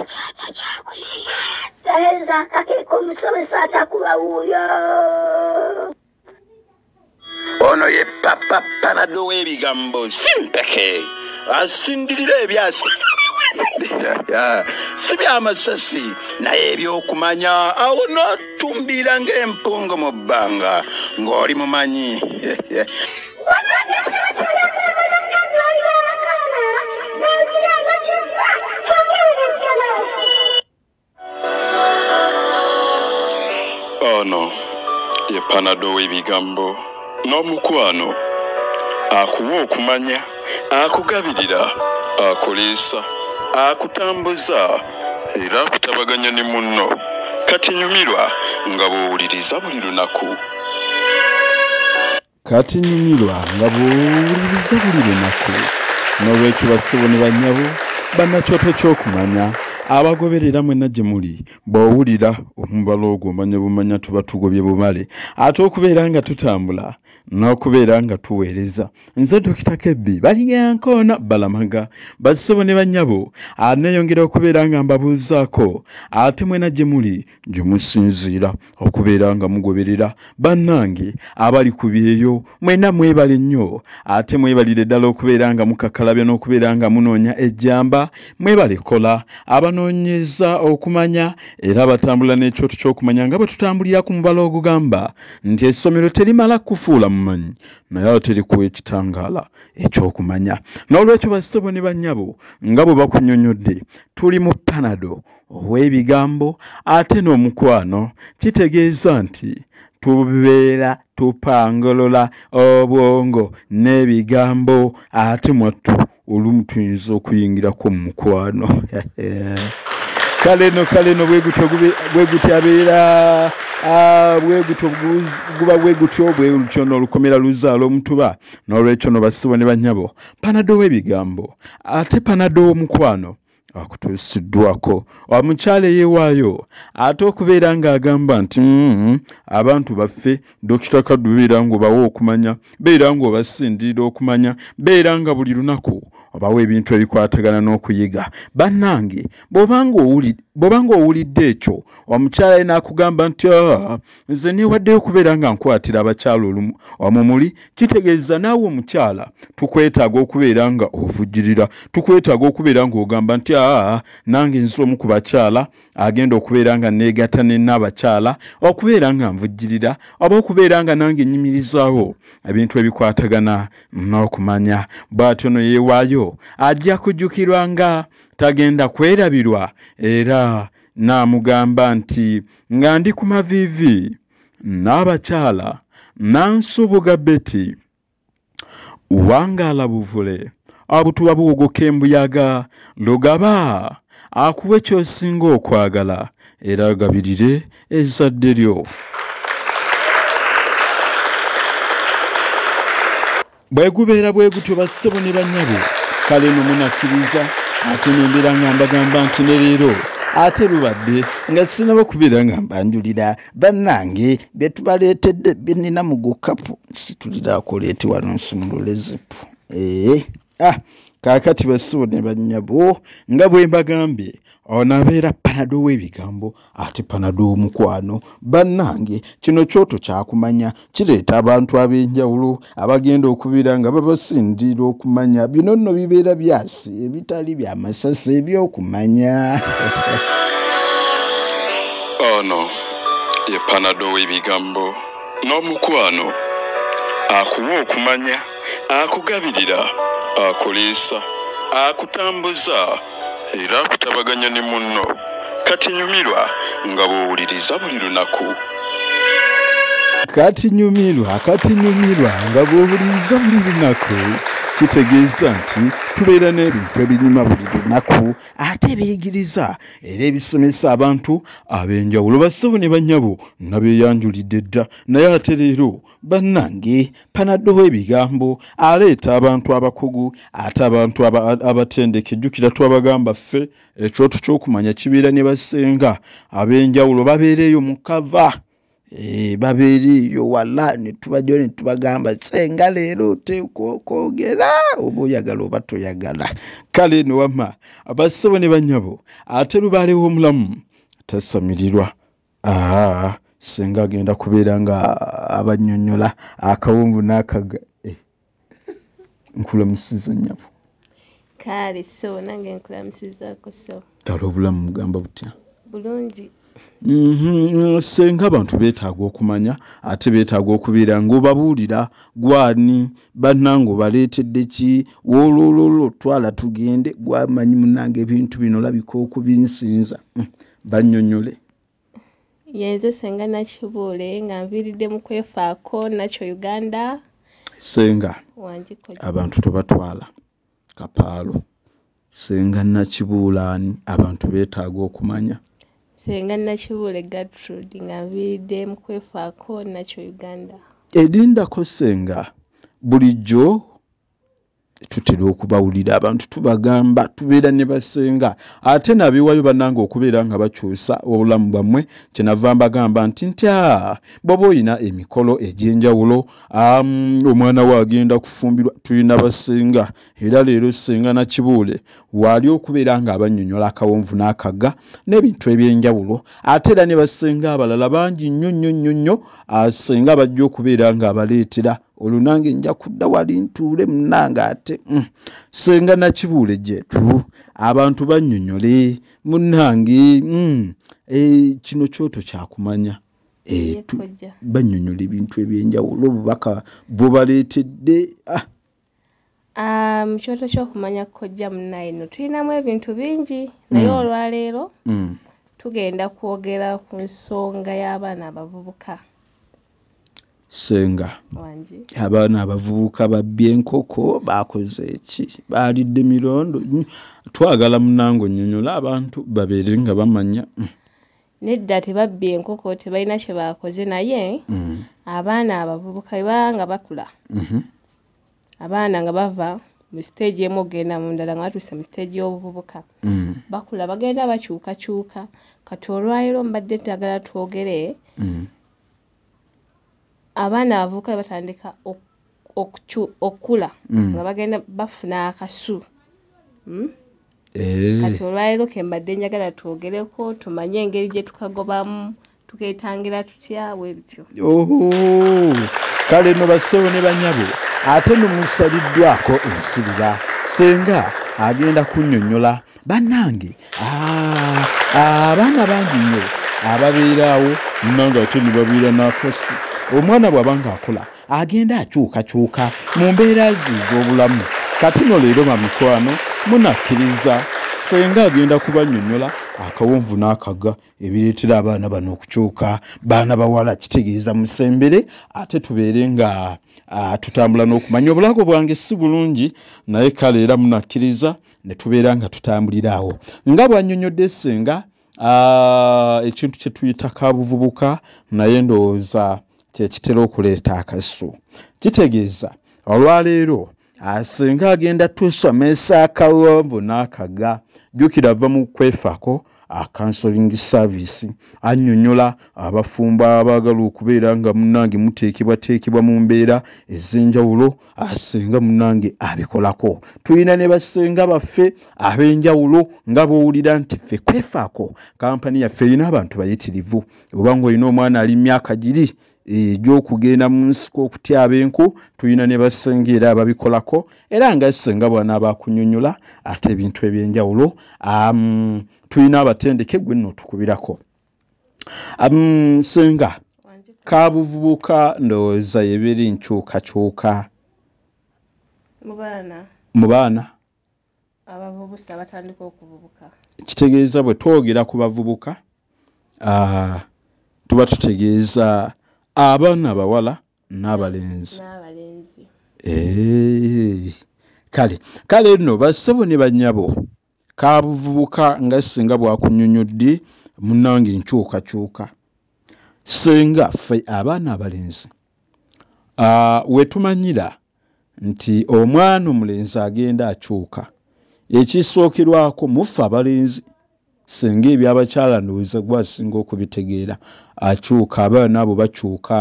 ekyana kyakuyiga talenza akakeka omusomesa atakuba wuuyo ono ye papa panado w'ebigambo simpeke asindirira ebyasi si byamasasi naye ebyokumanya awo notumbiira ng'empungu mu bbanga ng'oli mumanyi ono ye panado w'ebigambo n'omukwano akuwa okumanya akugabirira akuliisa akutambuza era akutabaganya ne munno kati nyumirwa nga bw'owuliriza buli lunaku Kati nyumirwa nga bw'owuliriza buli lunaku. N'olwekyo bassebo ne bannyabo, bannakyoto ky'okumanya, abagoberera mwenna gye muli, bw'owulira omubala ogwo omanya bumanya tuba tugobye bumale ate okubeera nga tutambula n'okubeera nga tuweereza. Nze Dokita Kebbi Balyankona Balamaga. Bassebo ne bannyabo, anneeyongera okubeera nga mbabuuzaako ate mwena gye muli, gye musinziira okubeera nga mugoberera bannange abali ku byeyo mwena mwebale nnyo ate mwebalire ddala okubeera nga mukakalabya n'okubeera nga munoonya ejjamba mwebale kola abanoonyeza okumanya era batambula n'ekyoto ky'okumanya nga bwe tutambulira ku mubala ogugamba nti essomero terimala kufuula mumanyi naye ate likuwa ekitangaala ekyokumanya n'olwekyo bassebo ne bannyabo nga bwe bakunyonyodde tuli mu panado ow'ebigambo ate n'omukwano kitegeeza nti tubeera tupangolola obwongo n'ebigambo ate mwattu olumu tuyinza okuyingirako mu mukwano kale no kale no bwegutyo bwegutyo abeera ah, bwegutyo guba bwegutyo bwegutyo nolukomera luzaala omutuba nolwekyo no basibo ne banyabo panado w'ebigambo ate panado w'omukwano akutuusiddwako omukyala eyewaayo ate okubeera ng'agamba nti mm-hmm, abantu baffe dokita kaddu beera ng'obawa okumanya beera ng'obasindirira okumanya beera nga buli lunaku obawo ebintu ebikwatagana n'okuyiga bannange bw'oba ng'owulidde ekyo omukyala ye n'akugamba nti ah, nze neewaddeyo okubeera nga nkwatira abakyala olumu wamu muli kitegeeza naawe omukyala tukwetaaga okubeera nga ovujjirira tukwetaaga okubeera ng'ogamba nti aa nange nze omu ku bakyala agenda okubeera nga neegatta nenna abakyala okubeera nga nvujjirira oba okubeera nga nange nyimirizaawo ebintu ebikwatagana n'okumanya bw'atyo no yeewaayo ajja kujjukirwa nga tagenda kwerabirwa era N'amugamba nti, Nga ndi ku maviivi, Nnaabakyala Nansubuga Betty, wangaala buvule, obutuba buwogoka embuyaga, Lugaba akuwe ky'osinga okwagala era agabirire ezzadde lyo. bwegubeera bwe gutyo bassebo ne banyabo kale no munakkiriza ate nembera nga mbagamba nti ne leero ate lubadde nga sinaba kubeera nga mbanjulira bannange bye tubaleetedde bye nnina mu gukapu situliraakoleeti wano nsumulule zipu ee eh, ah kaakati bassebo ne banyabo nga bwe mbagambye ono abeera panado w'ebigambo ate panado omukwano bannange kino kyoto kyakumanya kireeta abantu ab'enjawulo abagenda okubira nga babasindira okumanya bino nno bibeera byasi ebitali bya masasi ebyokumanya ono ye panado w'ebigambo n'omukwano akuwa okumanya akugabirira akuliisa akutambuza era akutabaganya ne munno kati nyumirwa nga bw'owuliriza buli lunaku kati nyumirwa kati nyumirwa nga bw'owuliriza buli lunaku kitegeeza nti tubeera n'ebintu ebinyuma buli lunaku ate ebiyigiriza era ebisomesa abantu ab'enjawulo bassebo ne bannyabo nabeeyanjulidde dda naye ate leero bannange panaddoho ebigambo aleeta abantu abakugu ate abantu abatendeke jjukira twabagamba ffe ekyoto ky'okumanya kibeera ne basenga ab'enjawulo babeereeyo mu kava eh, babeereeyo wala netubajao ne tubagamba senga leero oteekwa okwogera oba oyagala oba toyagala kale no wama abassebo ne bannyabo ate lubaalewo omulamu tasamirirwa aa senga agenda kubeera nga abanyonyola akawungu n'akaga eh, nkulamusiza nyabo kaale so nange nkulamusizako so kale obulamu mugamba butya bulungi mhm, senga abantu beetaaga okumanya ate beetaaga okubeera ngaobabuulira gwani bannange obaleetedde ki wolololo twala tugende gwamanyi munange ebintu bino labika okubinsinza mm. bannyonnyole yenze senga nakibuule nga nviiridde mu kwefaako nakyo uganda senga abantu tebatwala kapaalo senga nakibuulaani abantu beetaaga okumanya senga nakibuule gatrud nga nviiridde mu kwefaako nakyo uganda erindako senga bulijjo tutera okubawulira abantu tubagamba tubeera ne basenga ate nabiwayo banange okubeera nga bakyusa obulamu bwammwe kyenava mbagamba nti nti a ah, bwoba olina emikolo egy'enjawulo omwana we agenda kufumbirwa tulina basenga era leero senga nakibuule waali okubeera nga abanyonyola akawonvu n'akagga n'ebintu eby'enjawulo ate era ne basenga abalala bangi nnyo nnyo nnyo nnyo ah, senga bajja okubeera nga abaleetera olwo nange nja kudda wali ntuule munange ate mm. senga nakibuule gyetu abantu bannyonyole munange mm. e, kino kyoto kyakumanya e, bannyonyola ebintu ebyenjawulo obubaka bwobaleetedde ah. Ah, mu kyoto ky'okumanya kojja munnaye no tulinamu ebintu bingi naye mm. olwaleero mm. tugenda kwogera ku nsonga y'abaana abavubuka senga abaana abavubuka babbye enkoko bakoze eki baalidde mirondo twagala munange onyonyola abantu babeere nga bamanya mm. nedda tebabbye enkoko tebalina kye baakoze naye abaana abavubuka bebaa nga bakula mm-hmm. abaana nga bava mu siteegi emu okugenda mu ndala nga batuuse mu siteegi y'obuvubuka mm. bakula bagenda bakyukakyuka kati olwaliro mbadde ntagala twogere mm. abaana abavubuka be batandika okukula mm. nga bagenda bafuna akasu hmm? eh. kati olwaliro ke mbadde njagala twogereko tumanye engeri gye tukagobamu tuketangira tutya bwebityo kale no bassebo ne banyabo ate nomusaliddwako ensirira senga agenda kunyonyola banange ah, ah, abaana bangi nnyo ababeeraawo nanga ate nebabeera nakasi omwana bwaba nga akola agenda akyukakyuka mu mbeera ze ez'obulamu kati no leero bamikwano munakkiriza senga agenda kubanyonyola akawonvu n'akaga ebireetera abaana bano okukyuka baana bawala kitegeeza musembere ate tubeere nga tutambula n'okumanya obulago bwange si bulungi naye kale era munakkiriza ne tubeera nga tutambulira awo nga bwanyonyodde senga ekintu kye tuyita ka buvubuka naye ndowooza kyekitera okuleeta akasu kitegeeza olwaleero asinga ah, agenda tusomesa akawombo n'akaga jjukira ava mu kwefako akansoling ah, service annyonnyola abafumbo abaagala okubeera nga munnange muteekebwateekebwa mu mbeera ez'enjawulo asinga ah, munnange abikolako tulina ne basenga baffe ab'enjawulo nga bowulira nti ffe kwefaako kampani yaffe erina abantu bayitirivu obanga olina omwana ali myaka giri egyokugenda mu nsiko okutyaba enku tulina ne basenga era ababikolako era nga senga bwana abakunyonyola ate ebintu ebyenjawulo um, tulina abatendeke gwe nno tukubirako um, senga kabuvubuka ndowooza yebiri nkyukakyuka mu baana abavubusa batandika okuvubuka kitegeeza bwe twogera ku bavubuka tuba tutegeeza abaana bawala n'abalenzi kale kale nno bassebo ne bannyabo kabuvubuka nga singa bwakunyonyodde munange enkyukakyuka singa ffe abaana abalenzi wetumanyira nti omwana omulenzi agenda akyuka ekisookerwako muffe abalenzi singa ebyabakyala ndowooza gwe asinga okubitegeera akyuka abaana abo bakyuka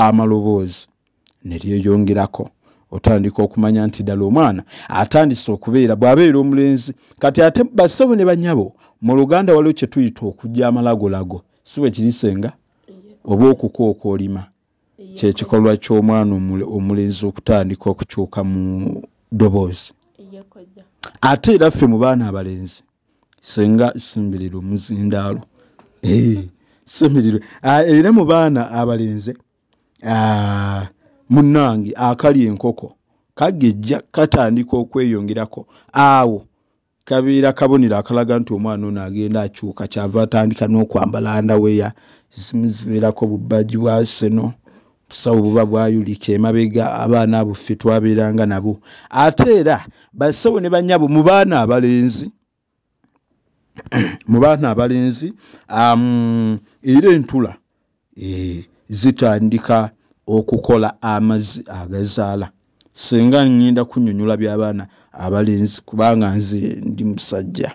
amaloboozi ne lyeyongerako otandika okumanya nti ddala omwana atandise okubeera bw'abeera omulenzi kati ate bassebo ne banyabo mu luganda waliwo kye tuyita okujja amalagolago si bwe kirisenga oba okukooka olima kyekikolwa ky'omwana omulenzi okutandika okukyuka mu ddoboozi ate era ffe mu baana abalenzi senga simbirira omuzindaalo simbirira ah, era mu baana abalenzi ah, munnange akali enkoko kagejja katandika okweyongerako awo kabeera kabonero akalaga nti omwana ono agenda akyuka kyava atandika n'okwambala andaweya ezimu zibeerako bubbaji bwa seno busawo buba bwayulika emabega abaana abo ffe twabeeranga nabo ate era basawo ne banyabo mu baana abalenzi mu baana abalenzi era entula eh, zitandika okukola amazzi agazaala singa ngenda kunyonyola byabaana abalenzi kubanga nze ndi musajja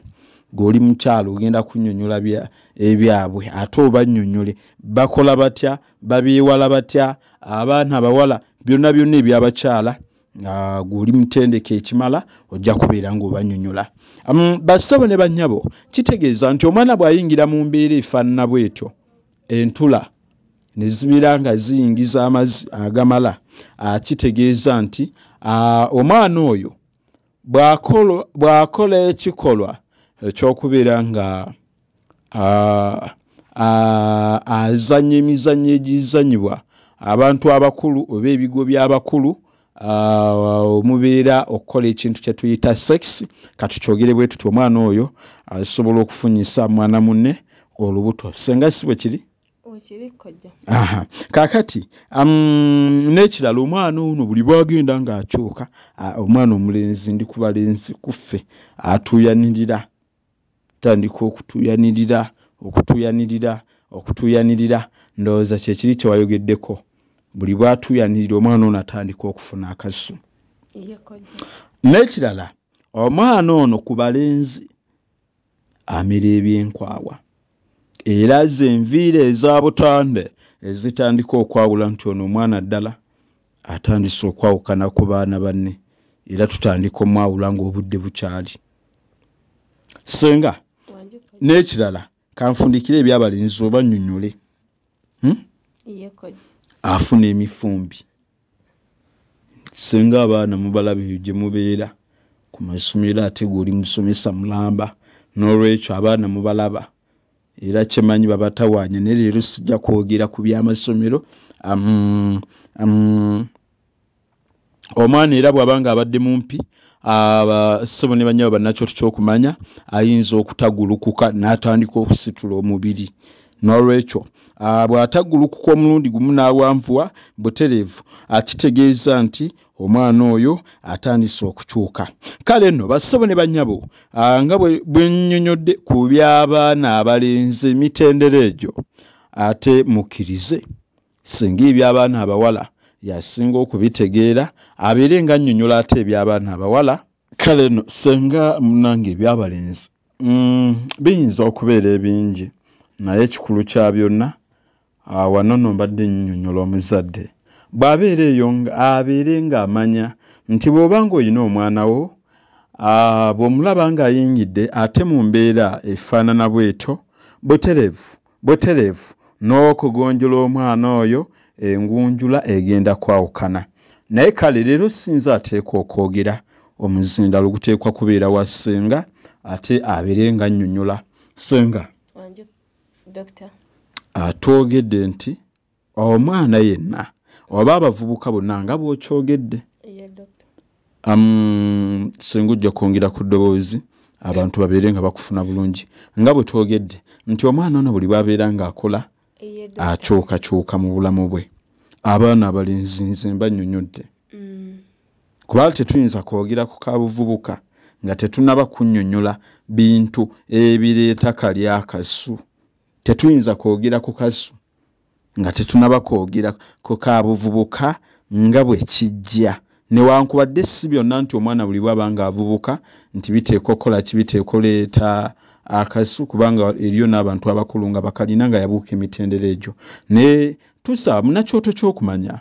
gweoli mukyalo ogenda kunyonyola ebyabwe ate obanyonyole bakola batya babyewala batya abaana abawala byonna byonna ebyabakyala nga gwoli mutendeka ekimala ojja kubeera ngaobanyonyola um, bassebo ne bannyabo kitegeeza nti omwana bw'ayingira mu mbeera efaanana bwetyo entula ne zibeera nga ziyingiza amazzi agamala akitegeeza nti omwana oyo bw'akola ekikolwa ekyokubeera nga azanya emizannyo egizanyibwa abantu abakulu oba ebigo by'abakulu uh, mubeera okukola ekintu kyetuyita sex katukyogere bwe tuti omwana oyo asobola okufunyisa mwana munne olubuto senga si bwe kiri kakati um, n'ekirala omwana ono buli bwagenda ng'akyuka omwana omulenzi ndi kubalenzi kuffe atuuyanirira tandika okutuyanirira okutuyanirira okutuyanirira ndowooza kyekiri kyewayogeddeko buli bwatuyanirira omwana ono atandika okufuna akasu n'ekirala omwana ono ku balenzi amira ebyenkwawa era ze enviiri eza butande ezitandika okwawula nti ono omwana ddala atandise okwawukana ku baana banne era tutandika omwawula ng'obudde bukyali senga n'ekirala kanfundikire ebyabalenzi oba nnyonyole hmm? afuna emifumbi singa abaana mubalaba eyo gye mubeera ku masomero ate gweoli musomesa mulamba n'olwekyo abaana mubalaba era kyemanyi babatawaanya naye leero sijja kwogera ku byamasomero am, am, omwana era bw'aba nga abadde mumpi abasebo ne banyabo bannakyoto ky'okumanya ayinza okutagulukuka n'atandika okusitula omubiri n'olwekyo bw'atagulukuka omulundi gumu n'awanvuwa butereevu akitegeeza nti omwana oyo atandise okukyuka kale nno bassebo ne bannyabo nga bwe nnyonyodde ku by'abaana abalenzi emitendera egyo ate mukkirize singa eby'abaana abawala yasinga okubitegeera abeere nga annyonnyola ate eby'abaana abawala kale no senga munange ebyabalenzi mm, biyinza okubeera ebingi naye ekikulu kya byonna ah, wano no mbadde nnyonnyola omuzadde bw'abeera eyo abeere ng'amanya nti bw'oba ng'olina omwana wo ah, bw'omulaba ng'ayingidde ate mu mbeera efaanana bwetyo butereevu butereevu n'okugunjula omwana oyo engunjula egenda kwawukana naye kale leero sinza ateekwa okwogera omuzindalo guteekwa kubeera wa ssenga ate abere nga nnyonyola ssenga atwogedde nti omwana yenna oba abavubuka bonna nga bwokyogedde um, singa ojja kwongera ku ddoboozi abantu babeere nga bakufuna bulungi nga bwe twogedde nti omwana ono buli bwabeera ng'akola akyukakyuka mu bulamu bwe abaana abalenzi nze mba nnyonyodde mm. kuba tetuyinza kwogera ku kabuvubuka nga tetunaba kunnyonnyola bintu ebireeta kalyakasu tetuyinza kwogera ku kasu nga tetunaba kwogera ku ka buvubuka nga bwe kijja newankubadde si byonna nti omwana buli bwaba nga avubuka nti biteekwa okukola ki biteekwa oleeta akasu kubanga eriyo n'abantu abakulu nga bakalina nga yabuuka emitendera egyo naye tusaba munakyoto ky'okumanya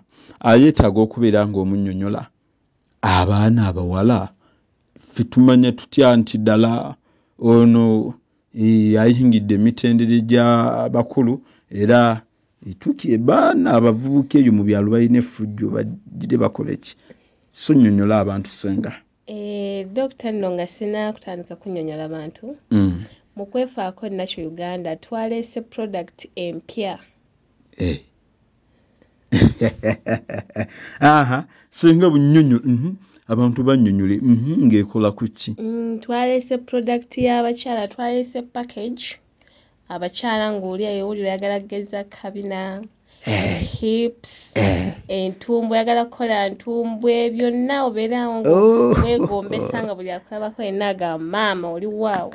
ayeetaaga okubeera ng'omunyonyola abaana abawala ffe tumanya tutya nti ddala ono ayingidde emitendere gya bakulu era etuki ebaana abavubuka eyo mu byalo balina efujjo bagire bakole ki sonyonyola abantu senga eh, dokita nno nga sina kutandika kunyonyola bantu mm. mu kwefaako nakyo uganda twaleese product empya eh. aha senga bunyonyo mhm. abantu banyonyole mhm, ngaekola kuki mm, twalese product yabakyala twalese package abakyala ngaoli ayewuli oyagala kugeza kabina eh. hips eh. entumbwe oyagala kukola ntumbwe byonna obeerawo oh. wegombesa nga buli akulabako yenna agamba maama oli waawo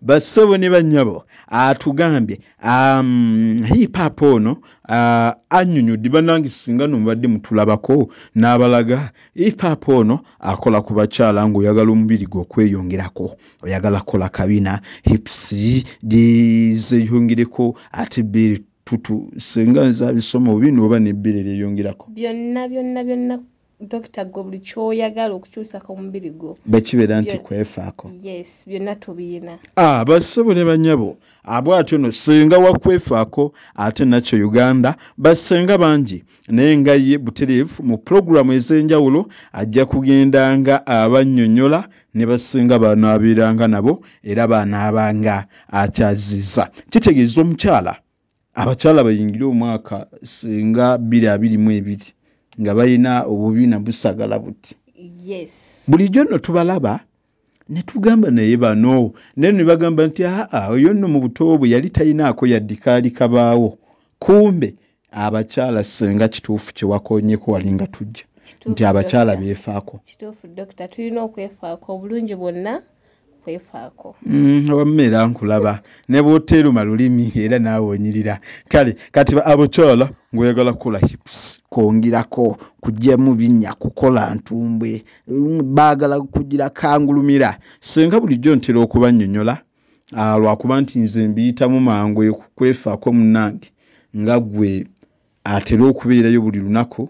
bassebo ne bannyabo atugambye um, hipaapa ono uh, anyonyodde banange singa nomubadde mutulabako n'abalaga hipaapa ono akola ku bakyala ngaoyagala omubiri gwe okweyongerako oyagala kola kabina hips zeyongereko ate beri tutu singa nze abisoma obi nooba nebbere lyeyongerako byonna byonna byonna dokita gwe buli kyoyagala okukyusa ku mubiri gwo bwekibeera nti kwefaako yes byonna tubiyina ah, basebo ne banyabo abw atyo no senga wakwefaako ate nakyo uganda basenga bangi naye nga ye butereevu mu pulogulaamu ez'enjawulo ajja kugenda nga abanyonyola ne basinga banaabeeranga nabo era banaabanga akyaziza kitegeeza omukyala abakyala bayingire omwaka nga bbiri abiri mu ebiri nga balina obubiina busagala buti bulijjo nno tubalaba ne tugamba naye bano naye ne bagamba nti aa oyo nno mu buto bwe yali talinaako yaddikaali kabaawo kumbe abakyala senga kituufu kye wakonyeko wali nga tujja nti abakyala beefaako kituufu dokita tulina okwefaako obulungi bwonna kwefaako mm, wamma era nkulaba ne bwoteeruma lulimi era naawe onyirira kale kati abukyala ng'oyagala kukola hips kwongerako kugyamu binnya kukola ntumbwe mm, baagala kugira kangulumira senga bulijjo ntera okubanyonyola ah, lwakuba nti nze mbiyitamu mangu kwefaako munange nga gwe atera okubeerayo buli lunaku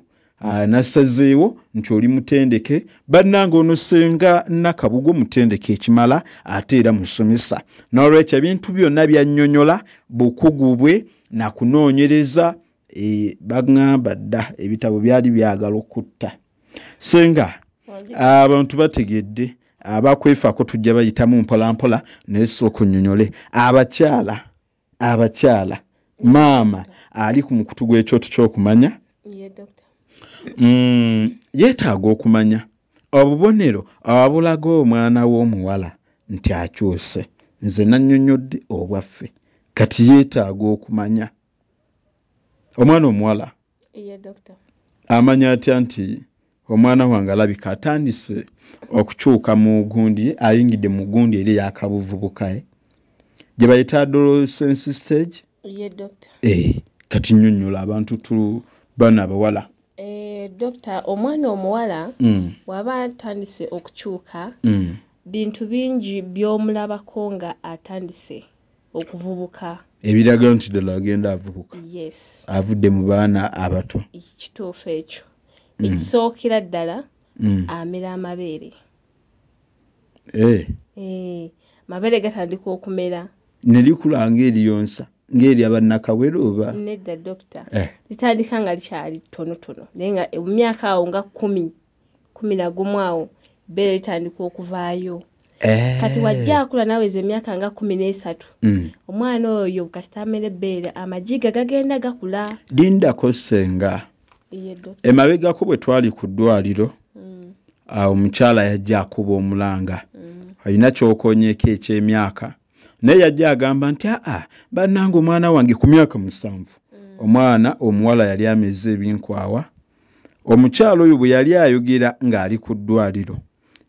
nasazeewo nti oli mutendeke bannanga ono senga nakabugo mutendeke ekimala ate era musomesa nolwekyo ebintu byonna byanyonyola bukugu bwe nakunoonyereza e, bagamba dda ebitabo byali byagala okutta senga abantu bategedde abakwefako tujja bayitamu mpolampola naye sooka onyonyole abakyala abakyala maama ali ku mukutu gw'ekyoto ky'okumanya mm, yeetaaga okumanya obubonero abulaga omwana w'omuwala nti akyuse nze nannyonnyodde obwaffe kati yeetaaga okumanya omwana omuwala amanya atya nti omwana wange alabika atandise okukyuka mu gundi ayingidde mu gundi eri eyakabuvubuka eh? gye bayita adolescence stage eh, kati nyonyola abantu tu bana abawala eh, dokita omwana omuwala mm. waba atandise okukyuka mm. bintu bingi byomulabako nga atandise okuvubuka ebiraga nti ddala agenda avubuka yes avudde mu baana abato kituufu ekyo mm. ekisookera ddala mm. amera amabeere eh. Eh, mabeere gatandika okumera nelikula ngaeriyonsa ngaeri abannakawere oba nedda dokita eh. litandika nga likyali tonotono naye nga emyaka awo nga kumi kumi na gumu awo bbeere litandika okuvaayo eh. kati wajja akula naweza emyaka nga kumi n'esatu mm. omwana oyo kasita amera ebbeere amajiga gagenda gakula lindako senga emabegako bwe twali ku ddwaliro mm. awo omukyala yajja akuba omulanga mm. alina kyokonyeko ekyemyaka naye yajja agamba nti aa bannanga omwana wange ku myaka musanvu omwana omuwala yali ameza ebinkwawa omukyala oyo bwe yali ayogera ng'ali ku ddwaliro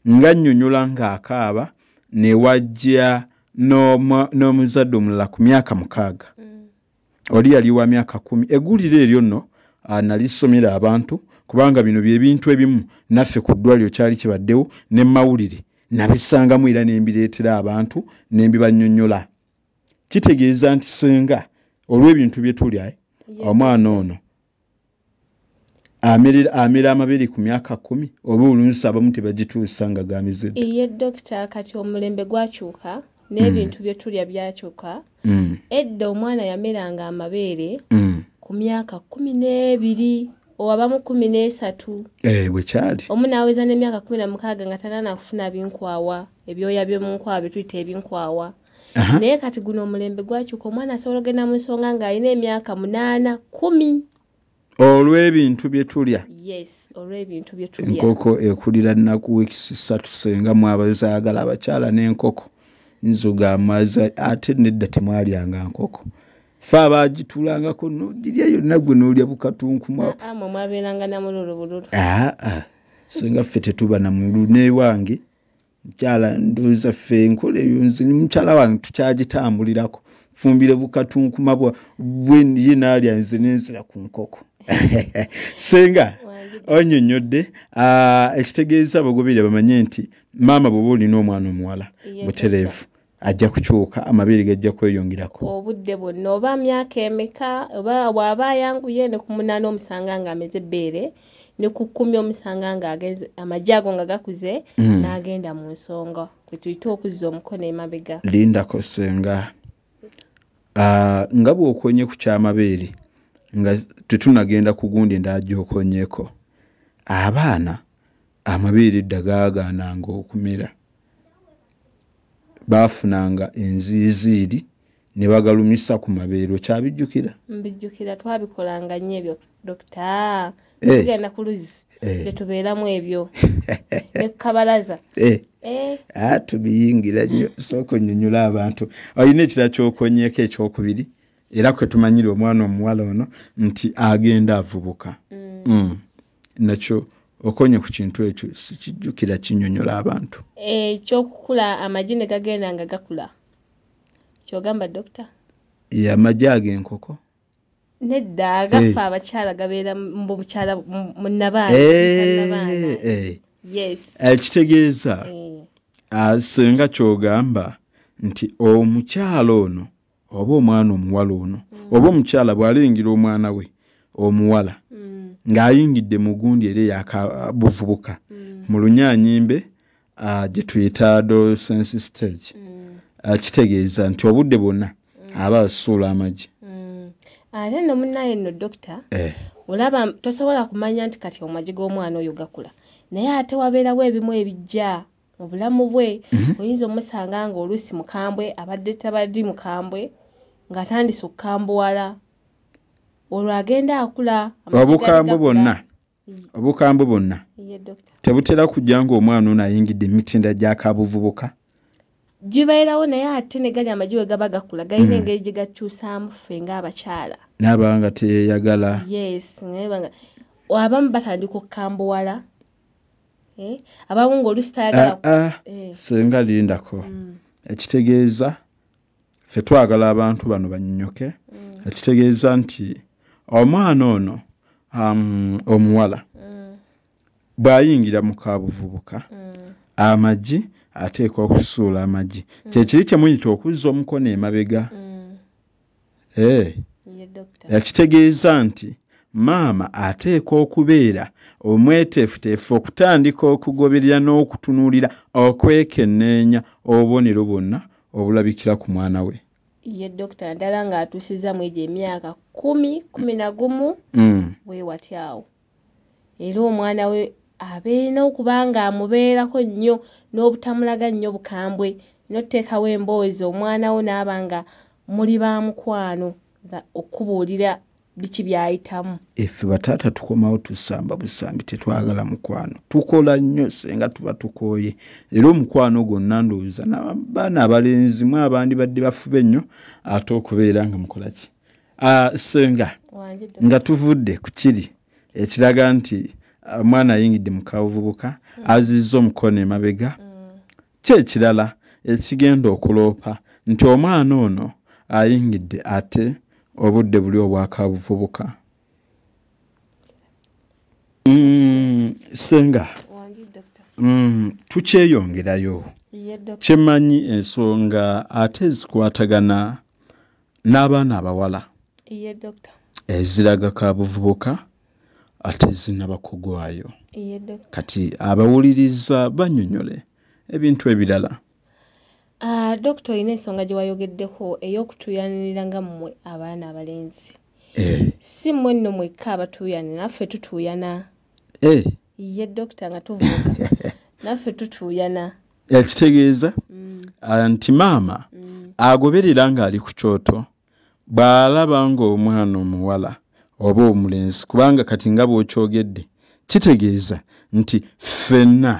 ng'annyonyola ng'akaaba ne wajja n'omuzadde omulala ku myaka mukaaga mm. oli yali wa myaka kumi eggulire eryo nno ah, nalisomera abantu kubanga bino byebintu ebimu naffe ku ddwaliro kyali kibaddewo ne mawulire nabisangamu era ne mbireetera abantu ne mbibanyonyola kitegeeza nti senga olw'ebintu bye tuli omwana ono amira amabiri ku myaka kumi oba oluusi abamu tebagituusa nga gamize iye dokita kati omulembe gwakyuka n'ebintu mm. byetulya byakyuka mm. edda omwana yameranga amabeere mm. ku myaka kumi n'ebiri owabamu kumi n'esatu eh, bwekyali omu naweza n'emyaka kumi na mukaaga nga tanana kufuna binkwawa ebyoya byomunkwawa byetuyita ebinkwawa naye kati guno omulembe gwakyuka omwana asobola ogenda mu nsonga ng'alina emyaka munaana kumi olw'ebintu bye tulya yes olw'ebintu bye tulya enkoko ekulira nnaku wiiki ssatu senga mwabazaagala abakyala n'enkoko nzuga amaza ate nedda temwalyanga nkoko fe abagitulangako nogirya yonna gwe nolya bukatunkumamwabeeranga namululubululu senga ffe tetuba namululu newange mukyala ndoza ffe enkola eyo nze ni mukyala wange tukyagitambulirako fumbire bukatunkuma bweye nalya nze nenzira ku nkoko senga onyonyodde ah, ekitegeeza abagobere bamanye nti maama bwoba olina omwana omuwala butereevu ajja kukyuka amabeere gajja kweyongerako obudde bwonna oba myaka emeka oba waaba ayanguye ne ku munaana omusanga nga ameze ebbeere ne ku kkumi omusanga nga agenze amagye ago nga gakuze mm. n'agenda mu nsonga kwe tuyita okuzza omukono emabega lindako senga ah, nga bw'okonye ku kyamabeere nga tetunagenda ku gundi endala gy'okonyeko abaana amabeere dda gaagaananga okumera baafunanga enziiziiri ne bagalumisa ku mabeero kyabijjukira mbijjukira twabikolanga nnyo ebyo dokita eh. tugenda ku luzzi eh. betubeeramu ebyo ne ku kabalaza eh. ah, tubiyingira nnyo sooka onyonyola abantu olina ekira kyokonyeko ekyokubiri era kwetumanyira omwana omuwala ono nti agenda avubuka mm. Mm. nakyo okonye ku kintu ekyo sikijjukira kinyonyola abantu ekyokukula eh, amagi ne gagenda nga gakula kyogamba dokita ye amagi ago enkoko nedda agaffe eh. abakyala gabeera mubukyala munabaanakitegeeza eh, ah, singa kyogamba nti omukyala ono oba omwana omuwala ono mm. oba omukyala bw'alengera omwana we omuwala mm. ng'ayingidde mu gundi era eyakabuvubuka mm. mu lunyanyimbe uh, gye tuyita adolescence stage uh, kitegeeza nti obudde bwonna aba asuula amagi ate no munaye no dokita eh. olaba tosobola kumanya nti kati omagi g'omwana oyo gakula naye ate wabeerawo ebimu ebijja mu bulamu bwe mhm. oyinza omusanga nga oluusi mukambwe abadde tabaddi mukambwe ng'atandise okukambuwala olwo agenda akula obukambwe bwonna obukambwe bwonna tebutera kujja ng'omwana ono ayingidde emitinda gyakabuvubuka gibeerawo naye ate ne gali amagi we gaba gakula galina mhm. engeri gye gakyusaamu ffe ng'abakyala naaba nga teyeyagala yes abamu batandika okukambuwala eh, abamu ngaolusi tayagala ah, ah, eh. senga lindako mm. ekitegeeza fe twagala abantu bano banyonyoke mm. ekitegeeza nti omwana ono um, omuwala mm. bwayingira mu kabuvubuka amagi ateekwa okusuula amagi kyekiri kyemuyita okuzza omukono emabega eh. yakitegeeza nti maama ateekwa okubeera omweteefuteefu okutandika okugoberera n'okutunuulira okwekenneenya obubonero bwonna obulabikira ku mwana we ye dokita naddala ng'atuusizza mu egyo emyaka kumi kumi na gumu mm. wewatyawo era omwana we abeerina okuba ng'amubeerako nnyo n'obutamulaga nnyo bukambwe n'oteekawo emboozi omwana wo n'aba nga muli ba mukwano nga okubuulira biki by'ayitamu. Effe bataata tukomawo tusamba busambi tetwagala mukwano tukola nnyo senga tuba tukooye era omukwano gwonna ndowooza nabaana abalenzi mwe abandibadde bafube nnyo ate okubeera nga mukolaki Ah, senga nga tuvudde ku kiri ekiraga nti ah, omwana ayingidde mu kabuvubuka mm. azizza omukono emabega mm. kyekirala ekigenda okuloopa nti omwana ono ayingidde ate obudde buli obwakabuvubuka mm, senga tukyeyongerayo kyemanyi ensonga ate zikwatagana n'abaana abawala eziraga ka buvubuka ate zinaba kugwayo kati abawuliriza banyonyole ebintu ebirala ah, dokita olina ensonga gye wayogeddeko ey'okutuuyanirira nga mmwe abaana abalenzi eh. si mmwe nno mwekka abatuuyanira naffe tutuuyana eh. ye dokita nga tuvuuka naffe tutuuyana ekitegeeza mm. ah, nti maama mm. agoberera ng'ali ku kyoto bw'alaba ng'omwana omuwala oba omulenzi kubanga kati nga bw'okyogedde kitegeeza nti ffenna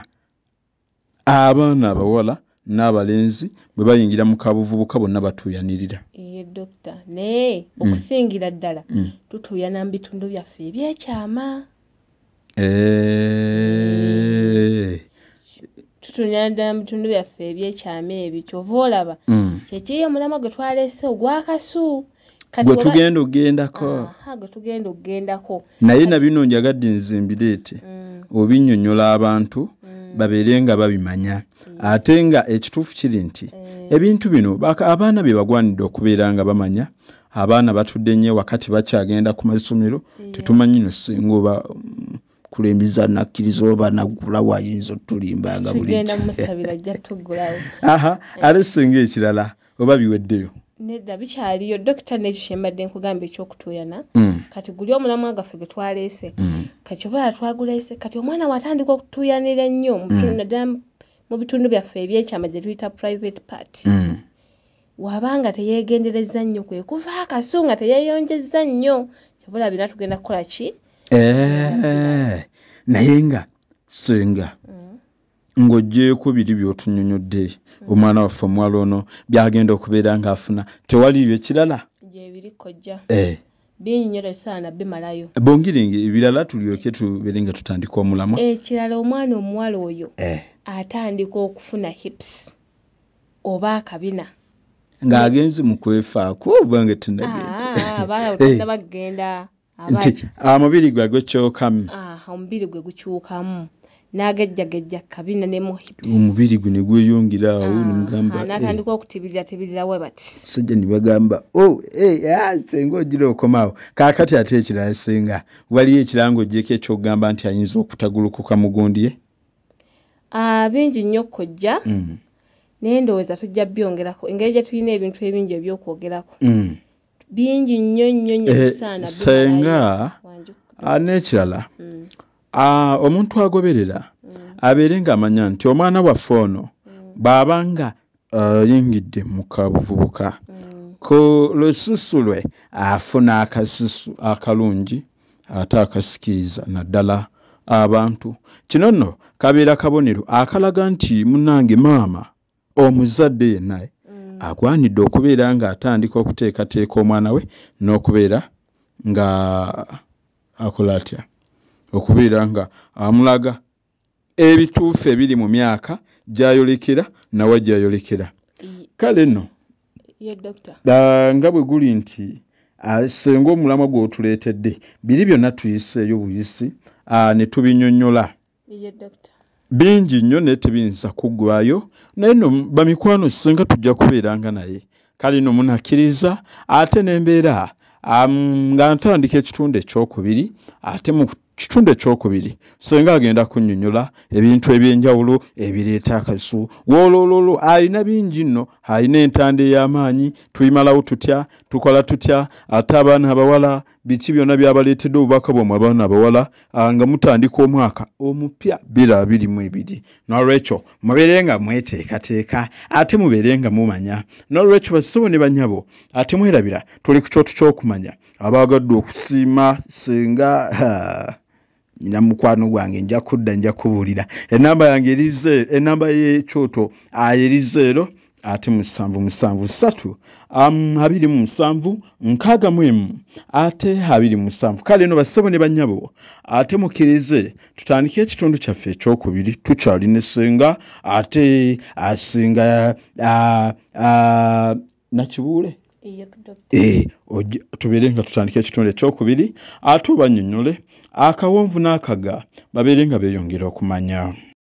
abaana abawala n'abalenzi bwe bayingira mu kabuvubuka bonna batuuyanirira eye dokita naye mm. okusingira ddala tutuuyana mu bitundu byaffe ebyekyama Eh. tutunyana ddala mu bitundu byaffe ebyekyama ebyo kyova olaba mm. kyekiri omulamwa gwe twalese ogwakasu gwe tugenda okugendako gwe tugenda okugendako naye na bino njagadde nze mbireete mm. obinyonyola abantu mm. babeere nga babimanya ate nga ekituufu kiri nti eh. ebintu bino abaana bye bagwanidde okubeera nga bamanya abaana batudde nnyo ewaka tebakyagenda ku masomero tetumanyi no singa oba mm, kulembeza nakkiriza oba naggula wayinza otulimbanga buliaha ate singa ekirala oba biweddeyo nedda bikyaliyo dokita nekyo kyembadde nkugamba ekyokutuuyana mm. kati guli omulamwa gaffe gwe twaleese mm. kati obaala twaguleese kati omwana watandika okutuuyanira ennyo naddala mu bitundu byaffe ebyekyama gye tuyita private part Waba nga teyegenderezza nnyo kwe kuva akasu nga teyeyonjezza nnyo kyobula bina tugenda kukola ki eh, naye nga senga mm. ng'oggyeeko biri by'otunyonyodde mm. omwana waffe omuwala ono byagenda okubeera ng'afuna tewaliyo ekirala gyebiri kojja eh. bongere ebirala tulyoke tubeere nga tutandika omulamwa ekirala omwana omuwala oyo eh. atandika okufuna hips oba akabina nga agenzi mukwefaako obange tunagenda ah, nti omubiri gwe gukyukamu ah, omubiri gwe gukyukamu nagejjagejja kabina ne omubiri gwe negweyongera awo ah, nemugamba eh. natandika okutibirira tibirira we bati sajja nibagamba o oh, eh, ah, senga ogira okomawo kakati ate ekirala senga waliyo ekirango ojeko ekyokugamba nti ayinza okutagulukuka mugundye Ah, bingi nnyo kojja mm. naye ndowooza tujja byongerako engeri gye tulina ebintu ebingi ebyokwogerako mm. bingi nnyo nnyo nnyo eh, kisaana senga ah, n'ekirala mm. ah, omuntu agoberera abeere ng'amanya nti omwana waffe ono bw'aba nga ayingidde uh, mu kabuvubuka mm. ku lususu lwe afuna akasusu akalungi ate akasikiriza naddala abantu kino nno kabeera kabonero akalaga nti munange maama omuzadde yennaye mm. agwanidde okubeera ng'atandika okuteekateeka omwana we n'okubeera nga akola atya okubeera nga amulaga ebituufu ebiri mu myaka gyayolekera nawa gyayolekera kale no nga bwe guli nti senga omulamwa gw'otuleetedde biri byonna tuyiseeyo buyisi ne tubinyonyola bingi nnyo naye tebiyinza kuggwayo naye no bamikwano senga tujja kubeeranga naye kale no munakkiriza ate n'embeera nga ntandika ekitundu ekyokubiri ate kitundu ekyokubiri senga agenda kunyonyola ebintu ebyenjawulo ebireeta akasu wolololo alina bingi nno alina entanda ey'amaanyi tuyimalawo tutya tukola tutya ate abaana abawala biki byonna byabaleetedde obubaka bwamwe abaana abawala ah, nga mutandika omwaka omupya bira abiri mu ebiri nolwekyo mubeere nga mweteekateeka ate mubeere nga mumanya nolwekyo bassebo ne banyabo ate mwerabira tuli ku kyoto ky'okumanya abaagadde okusiima senga nyina mukwano gwange nja kudda nja kubuulira enamba yange erize enamba yekyoto ayerize ero ate musanvu musanvu satu um, abiri mu musanvu nkaaga mu emu ate abiri musanvu kale no bassebo ne bannyabo ate mukkirize tutandike ekitundu kyaffe ekyokubiri tukyali ne senga ate asinga uh, uh, uh, nakibuule eh, tubeere nga tutandika ekitundu ekyokubiri ate obanyonyole akawonvu n'akaga babeere nga beeyongera okumanya